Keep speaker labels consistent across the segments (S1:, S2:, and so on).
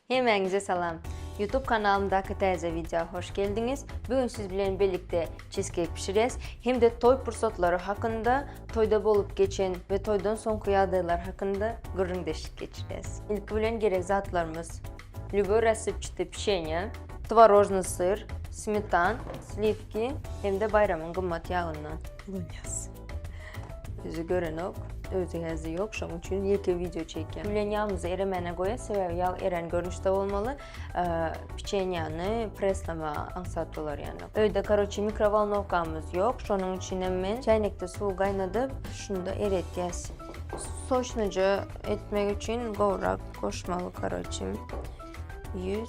S1: Hemmäňize salam! Youtube kanalymdaky täze wideo hoş geldiňiz! Bu gün siz bilen birlikde çizkeýk bişirýäs hem-de toý pursatlary hakynda, toýda bolup geçen we toýdan soňky ýagdaýlar hakynda gürrüňdeşlik geçirýäs. Ilki bilen gerek zatlarymyz, lýuboý rassipçity pişenýe, tworojnyý syr, smetan, slivki hem-de baýramyň gymmat ýagyndan. Ulunyýaz. Yüzü görenok. Özü hezi yok. Şoň üçin ýeke video çekýän. Gülen ýagymyzy eremene goýa, sebäbi ýag eren görnüşde bolmaly. Piçenýany preslama aňsat bolar ýany. Öýde karoçi mikrovolnowkamyz ýok. Şonuň üçin hem men çaýnekde suw gaýnadyp, şunda eretýäs. Soçnuja etmek üçin gowrak goşmaly karoçi. 100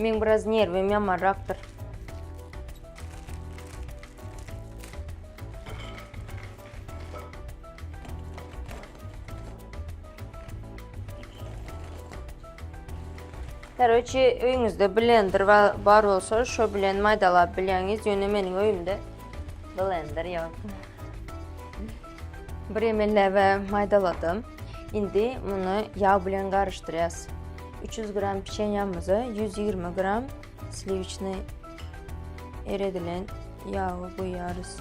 S1: Meň biraz nerwim ýamarrakdyr. Karoçi, öýüňizde blender bar bolsa, şo bilen maýdalap bilýäňiz, ýöne meniň öýümde blender ýok. Bir ýemele we maýdaladym. Indi muny ýag bilen garyşdyrýas. 300 gram pişenýamyza 120 gram sliwiçni eredilen ýagy guýýarys.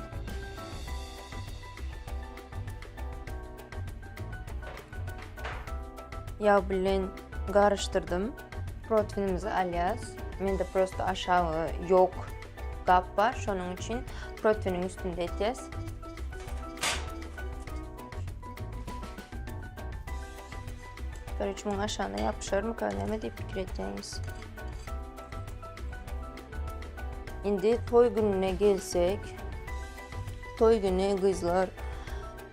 S1: Ýag bilen garyşdyrdym. Proteinimizi alýas. Mende prosta aşagy ýok. gap bar. Şonuň üçin protiniň üstünde etýäs. Bir üç müň aşagyna ýapyşarmyka näme diýip pikir etýäňiz? Indi toý gününe gelsek, toý güni gyzlar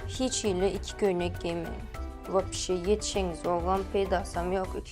S1: hiç hili iki köýnek geýmeň. Wapşe ýetişeňiz, ogam peýdasam ýok.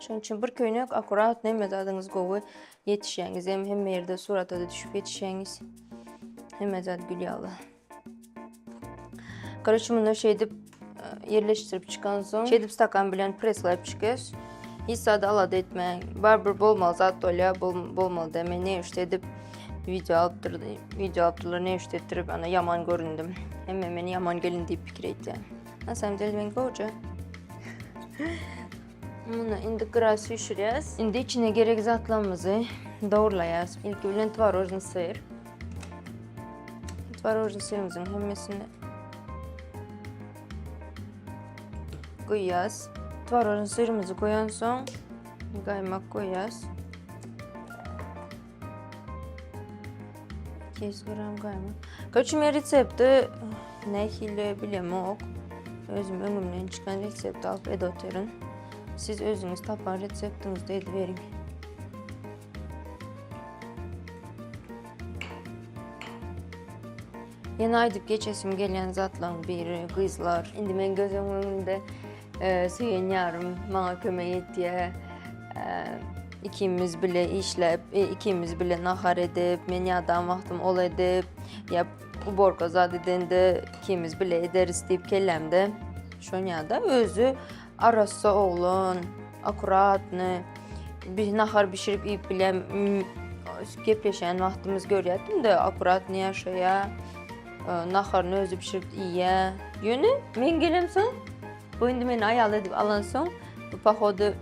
S1: Şonuň üçin bir köýnek akkurat näme zadyňyz gowy ýetişýäňiz hem hemme ýerde surata da düşüp ýetişýäňiz. Hemme zat gül ýaly. Garaşy munda şeýdip e, ýerleşdirip çykan soň, şeýdip stakan bilen presläp çykyş. Hiç zady alada etmäň. Barybir bolmaly zat bolýar, bol, bolmaly da. Men ne üçin edip video alyp durdy, video alyp durlar, ne üçin etdirip ana ýaman göründim. Hemme meni ýaman gelin diýip pikir etdi. Na samom dele men goja. Muny indi gyra süýşürýäs. Indi içine gerek zatlarymyzy dogurlaýas. Ilki bilen twarožny syr. Twarožny syrymyzyň hemmesini goýýas. Twarožny syrymyzy goýan soň gaýmak goýýas. 200 gram gaýmak. Köçü men resepti nähili bilemok. Özüm öňümden çykan resepti alyp edip oturun. Siz özüňiz tapan reseptiňizde edip beriň. Ýene aýdyp geçesim gelýän zatlaryň biri gyzlar. Indi men göz öňümde Söýen ýarym maňa kömek etýär. Ikimiz bile işläp, ikimiz bile nahar edip, men ýadan wagtym ol edip, ýa uborka zat edende ikimiz bile ederis diýip kellämde şonýada özi arassa oglan, akkuratny. Biz nahar bişirip iýip bilýän gepleşýän wagtymyz görýärdim-de, akkuratny ýaşaýar. naharyny özi bişirip iýýä. Ýöne men gelemsoň, bu indi meni aýal edip alansoň, bu pohody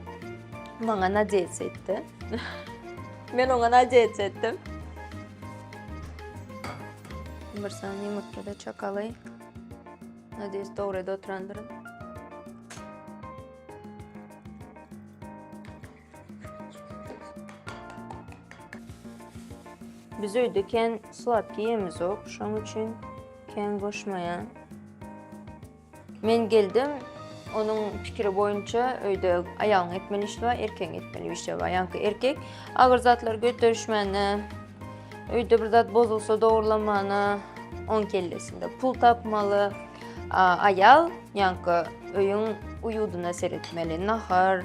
S1: maňa nadejs etdi. men oňa nadejs etdim. Bir sany ýumurtga-da çakaly. Nadejs dogry ýerde oturandyryn. Biz öýde kän sladki ýemizok, şoň üçin kän goşmaýan. Men geldim, onuň pikiri boýunça öýde aýalyň etmeli işi bar, erkegiň etmeli işi bar. Ýaňky erkek agyr zatlary göterişmäne, öýde bir zat bozulsa dogrulamana, oň kellesinde pul tapmaly. Aýal ýaňky öýüň uýudyna seretmeli, nahar,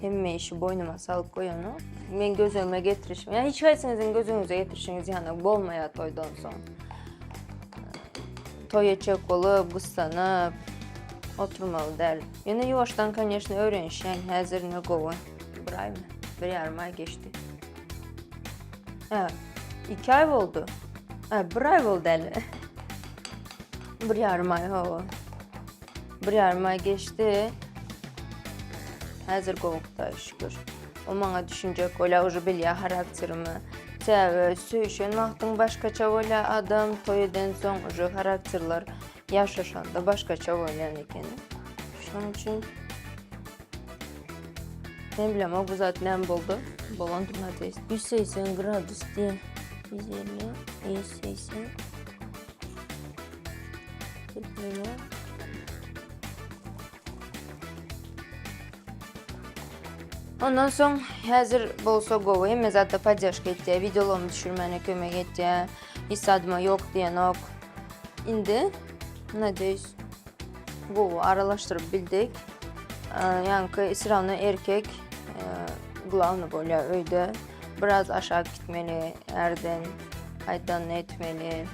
S1: Hemme işi boynuma salyp goýana. Men gözüme getirişim. Yani hiç haýsyňyzyň gözüňize getirişiňiz ýana bolmaýar toýdan soň. Toýa çök bolup, gyssanyp, oturmaly däl. Ýöne ýuwaşdan, конечно, öwrenişýän. Häzir ne gowy. Bir aýmy? Bir ýarym aý geçdi. Ha, iki aý boldy. Ha, bir aý boldy äli. bir ýarym aý, hawa. Bir ýarym aý geçdi. Häzir gowy Hudaý şükür. O maňa düşünjek bolýar, uje bilýär harakterimi. Sebäbi söýüşen wagtyň başgaça bolýar adam, toý eden soň uje harakterler ýaşaşanda başgaça bolýan ekeni. Şonuň üçin men bilem o bu zat näme boldy. Bolandyr nädeýs. 180 gradus diýen. 150, 180. Ondan soň häzir bolsa gowy, hemme zatda poddeşka etýär, wideolarymy düşürmäne kömek etýär. Hiç zadyma ýok diýenok. Indi, nadeýs, Gowy aralaşdyryp bildik. Ýaňky israwna erkek glavny bolýar öýde. Biraz aşak gitmeli, ärden gaýdan etmeli.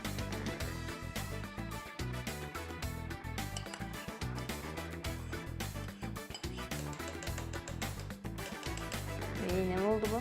S1: Ýene boldy bu.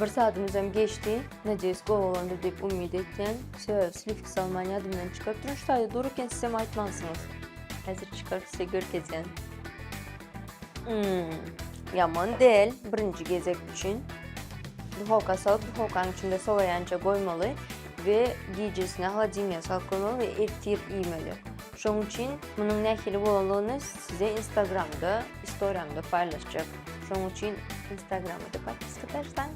S1: Bir saatymyzam geçdi. Nadeýs gowy boldy diýip umyt etýän. Şö, slifki salman ýadymdan çykyp durun şaýda dur eken sizem aýtmansyňyz. Häzir çykaryp size görkezýän. Hmm, ýaman del, birinji gezek üçin. Duhowka salyp, duhowkanyň içinde sowaýança goýmaly we gijesine holodilniýe salyp goýmaly we ertir iýmeli. Şoň üçin munuň nähili bolanlygyny size Instagramda istoriýamda paýlaşjak. Şoň üçin instagrama da podpiska taşlaň,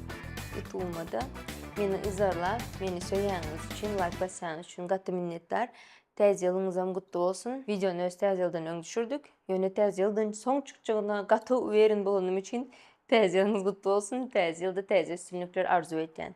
S1: ýutubuma da. Meni yzarlap, meni söýýäniňiz üçin, laýk basýanyňyz üçin gaty minnetdar. Täze ýylyňyzam gutly bolsun. Wideony öz Täze ýyldan öň düşürdik. Ýöne Täze ýyldan soň çykjagyna gaty uweren bolanym üçin Täze ýylyňyz gutly bolsun. Täze ýylda täze üstünlikler arzuw edýän.